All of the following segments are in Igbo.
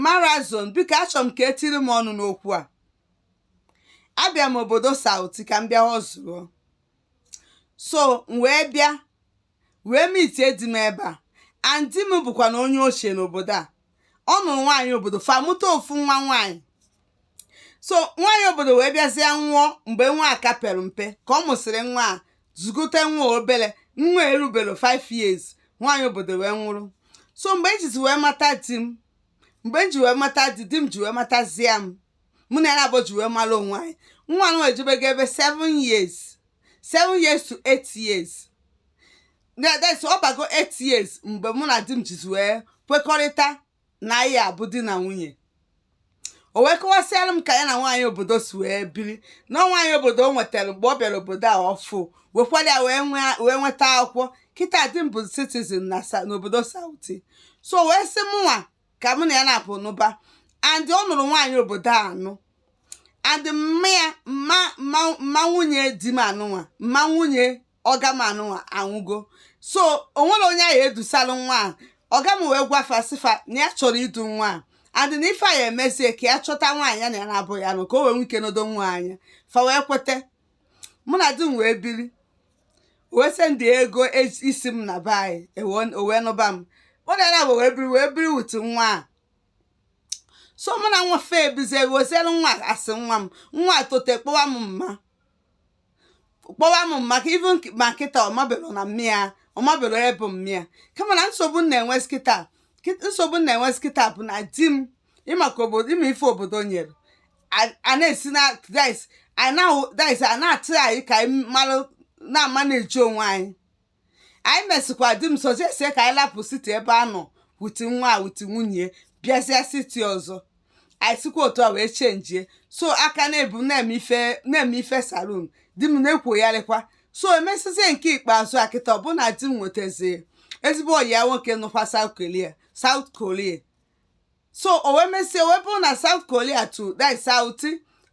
marazon biko achọ m ka etiri m ọnụ n'okwu a abịa m obodo South ka m bịa hustle so m wee bịa wee mitie di m ebe a and di m bụkwa na onye ochie n'obodo a ọ nụrụ nwaanyị obodo fa mụta ofu nwa nwaanyị so nwaanyị obodo wee bịazịa nwụọ mgbe nwa a ka pere mpe ka ọ mụsịrị nwa a zụgote nwa obere nwa erubero 5 years nwaanyị obodo wee nwụrụ so mgbe m jizi wee mata di m mgbe m ji wee mata di di m ji wee matazie m mụ na ya naabọ ji wee mara onwe anyị nwa nwa ejebego ebe 7 years 7 years to 8 years na that's ọ bago 8 years mgbe mụ na di m jizi wee kwekọrịta na anyị abụ di na nwunye o wee kọwasịara m ka ya na nwaanyị obodo si wee biri na nwaanyị obodo o nwetara mgbe ọ bịara obodo a ọfụụ wekwara ya wee nwee- wee nweta akwụkwọ kịta di m bụ citizen na sa- n'obodo South so wee sị mụnwa ka mụ na ya naabọ nụba and ọ nụrụ nwaanyị obodo a anụ and mma ya mma mma mma nwunye di m a nụnwa mma nwunye ọga m a nụnwa anwụgo so o nwero onye a ya-edusalụ nwa a ọga m wee gwa fa sị fa na ya chọrọ idu nwa a and na ife a ya-emezi ka ya chọta nwaanyị ya na ya naabọ ya-anụ ka o wee nwee ike nedo nwa anya fa wee kwete mụ na di m wee biri wee send ego e- isi m na be anyị ewe- o wee nụba m mụ na ya naabọ wee biri wee biri with nwa a so mụ na nwa afụ ebizie weziere nwa as nwa m nwa tote kpọwa m mma kpọwa m mma even ma kịta ọ mabelo na mma ya ọ mabelo ebe mma ya kama na nsogbu m na-enwezi kịta nsogbu m na-enwezi kịta bụ na di m ị ma ka obodo ị ma ife obodo nyere a na-asị na dice a na-ahụ dice a na-atụ anyị ka anyị malụ na-ama na-eji onwe anyị anyị mesịkwa di m suggestie ka anyị lapụ city ebe a nọ with nwa a with nwunye bịazịa city ọzọ anyị sikwa otu a wee chenjie so aka na-ebu na-eme ife na-eme ife salon di m na-akwọyarịkwa so emesizie nke ikpeazụ a kịta ọ bụ na di m nwetazie ezigbo ọyi ya nwoke nọkwa South Korea South Korea so o wee mesie wee bụrụ na South Korea to that South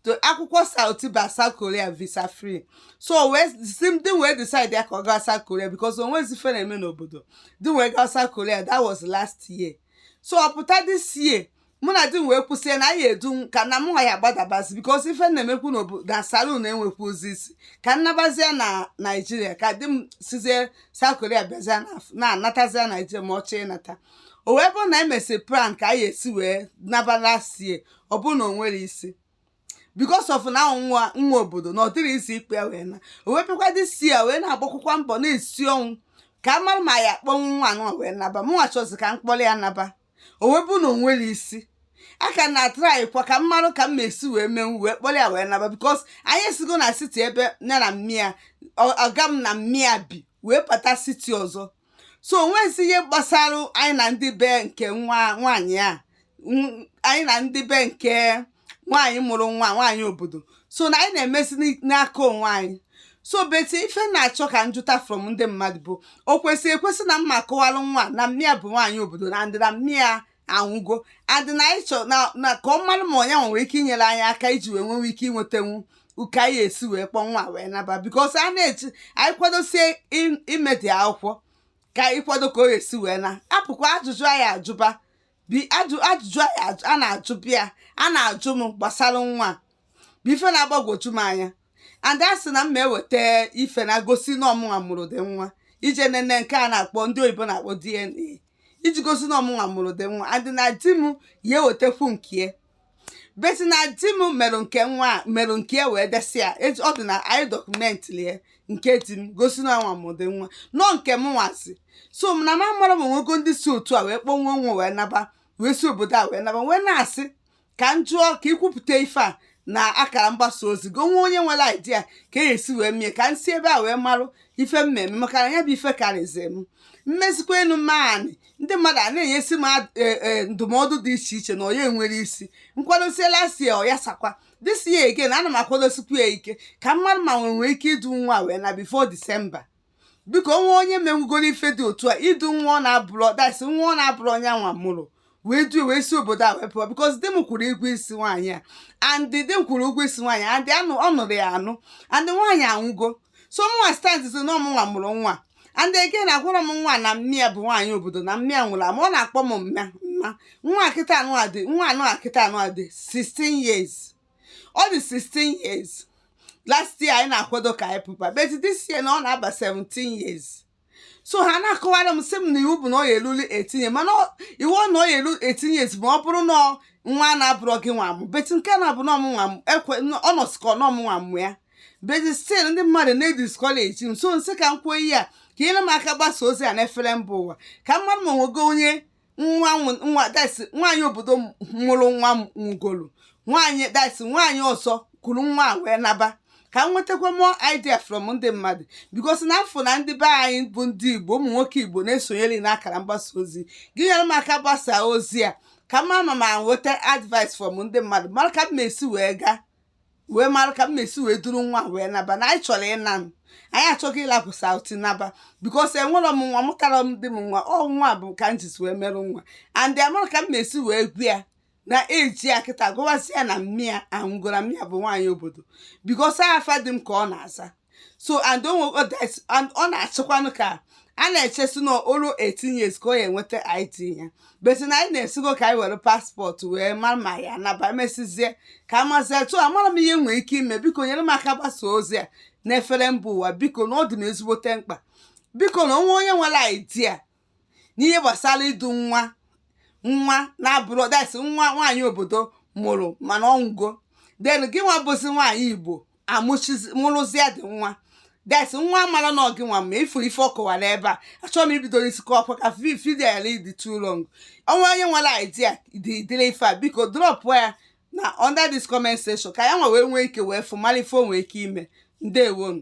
to akwụkwọ South ba South Korea visa free so o wee sị m di m wee decide ya ka ọ gawa South Korea because o nweghịzi ife ọ na-eme n'obodo di m wee gawa South Korea that was last year so ọ pụta this year mụ na di m wee kwusịa na anyị edu m ka na mụ nwa ya gbadabazi because ife na-emekwu n'obodo na salon enwekwurozi isi ka m nabazie na naijiria ka di m sizie South Korea bịazie na- na-anatazie naijiria ma ọ chọọ ịnata o wee bụrụ na anyị mesịrị plan ka anyị esi wee naba last year ọ bụrụ na o nwerọ isi because of na nwa nwa obodo na ọ dịrọ easy ịkpọ ya wee naa o wee bịakwa this year wee na-agbakwụkwa mbọ na-esi ọnwụ ka a mara ma ya akpọnwu nwa anụ wee naba mụnwa chọzi ka m kpọrọ ya naba o wee bụrụ na o nwerọ isi a ka na-atry kwa ka m marụ ka m ma-esi wee menwu wee kpọrọ ya wee naba because anyị esigo na city ebe ya na mma ya ọga m na mma ya bi wee pụta city ọzọ so o nwezi ihe gbasara anyị na ndị be nke nwa nwaanyị a anyị na ndị be nke nwaanyị mụrụ nwa nwaanyị obodo so na anyị na-emezi n'aka onwe anyị so but ife m na-achọ ka m jụta from ndị mmadụ bụ o kwesịrị ekwesị na m ma-akọwalụ nwa na mma ya bụ nwaanyị obodo and na mma ya anwụgo and na anyị chọ na na ka ọ mara ma onye ahụ nwere ike inyere anyị aka iji wee nwewe ike inwetanwu ka anyị esi wee kpọọ nwa a wee naba because a na-eji anyị kwadosie im- ime the akwụkwọ ka anyị kwado ka o esi wee naa apụkwa ajụjụ anyị ajụba bi ajụ ajụjụ anyị ajụ- a na-ajụ bịa a na-ajụ m gbasara nwa a. bụ ife na-agbagwoju m anya and a sị na m ma-eweta ife na-egosi na ọ mụnwa mụrụ the nwa ije nene nke a na-akpọ ndị oyibo na-akpọ DNA iji gosi na ọ mụnwa mụrụ the nwa and na di m ya-ewetekwu nke ya but na di m merụ nke nwa a merụ nke ya wee desị ya eji- ọ dị na anyị document ya nke di m gosi na nwa mụrụ the nwa na ọ nke mụnwazi so m na m amarọ ma o nwego ndị si otu a wee kpọnwuo nwa wee naba wee si obodo a wee naba wee na-asị ka m jụọ ka i kwupụta ife a n'akara mgbasa ozi gị o nwee onye nwere idea ka e si wee mie ka m si ebe a wee marụ ife m ma-eme maka na ya bụ ife karịzi m mmezikwa enu mmaanị ndị mmadụ a na-enyesi m ad- e, e, ndụmọdụ dị iche iche na onye nwere isi m kwadosie last year ọ yasakwa this year again ana m akwadosikwu ya ike ka m marụ ma m ma-enwe ike idu nwa wee naa before December biko o nwee onye menwugoro ife dị otu a idu nwa ọ na-abụrọ that is nwa ọ na-abụrọ yanwa mụrụ wee duo wee si obodo a wee pụọ because di m kwụrụ ụgwọ isi nwaanyị a and di m kwụrụ ụgwọ isi nwaanyị and ọ nụrụ ya anụ and nwaanyị anwụgo so mụnwa stand sị na ọ mụnwa mụrụ nwa and again agwarọ m nwa na mma ya bụ nwaanyị obodo na mma ya nwụrụ ama ọ na-akpọ m mma mma nwa a kịta anụ adị nwa anụ kịta anụ adị 16 years ọ dị 16 years last year anyị na-akwado ka anyị pụba but this year na ọ na-aba 17 years so ha na-akọwara m sị m na iwu bụ na ọ ya-eluli 18 years mana ọ- iwu ọ na ọ ya-elu 18 years ma ọ bụrụ na ọ- nwa a na-abụrọ gịnwa mụ but nke na-abụ na ọ mụnwa m ekwe ọ nọsikọ na ọ mụnwa mụ ya but still ndị mmadụ na-ediscourage m so m sị ka m kwuo ihe a ka i nyere m aka gbasa ozi a n'efere mba ụwa ka m marụ ma o nwego onye nwa nwa that's nwaanyị obodo mụrụ nwa nwụgolu nwaanyị that's nwaanyị ọzọ kuru nwa a wee naba ka m nwetakwa more idea from ndị mmadụ because na a fụ na ndị be anyị bụ ndị igbo ụmụ nwoke igbo na-esonyere na akara mgbasa ozi gị nyere m aka gbasaa ozi a ka m ma ma ma nweta advice from ndị mmadụ mara ka m esi wee gaa wee mara ka m esi wee duru nwa wee naba na anyị chọrọ ịna m anyị achọgo ịlapụ South naba because enwerọ m nwa mụtara m di m nwa ọ nwa bụ ka m jizi wee merụ nwa and amara ka m esi wee gwa ya na age ya kịta gwazi ya na mma ya anwụgoro mma ya bụ nwaanyị obodo because afa di m ka ọ na-aza so and onwe that and ọ na-achịkwanụ ka a na-eche sị na o luo 18 years ka ọ ya-enweta ID ya but na anyị na-asịgo ka anyị were passport wee mara ma ya naba mesizie ka amazie so amarọ m ihe m nwere ike ime biko nyere m aka gbasa ozi a n'efere mba ụwa biko na ọ dị m ezigbote mkpa biko na o nwee onye nwere idea n'ihe gbasara idu nwa nwa na-abụrọ that's nwa nwaanyị obodo mụrụ mana ọ nwụgo then gị nwa bụzi nwaanyị igbo amụchizi mụrụzịa di nwa that's nwa mara na ọ gị nwa ma ị fụrụ ife ọ kọwara ebe a achọrọ m ibido n'isi kọọkwa ka video ya dị too long o nwee onye nwere idea dị dịrị ife a biko dropụ ya na under this comment section ka ya nwa wee nwee ike wee fụ mara ife o nwee ike ime ndewonu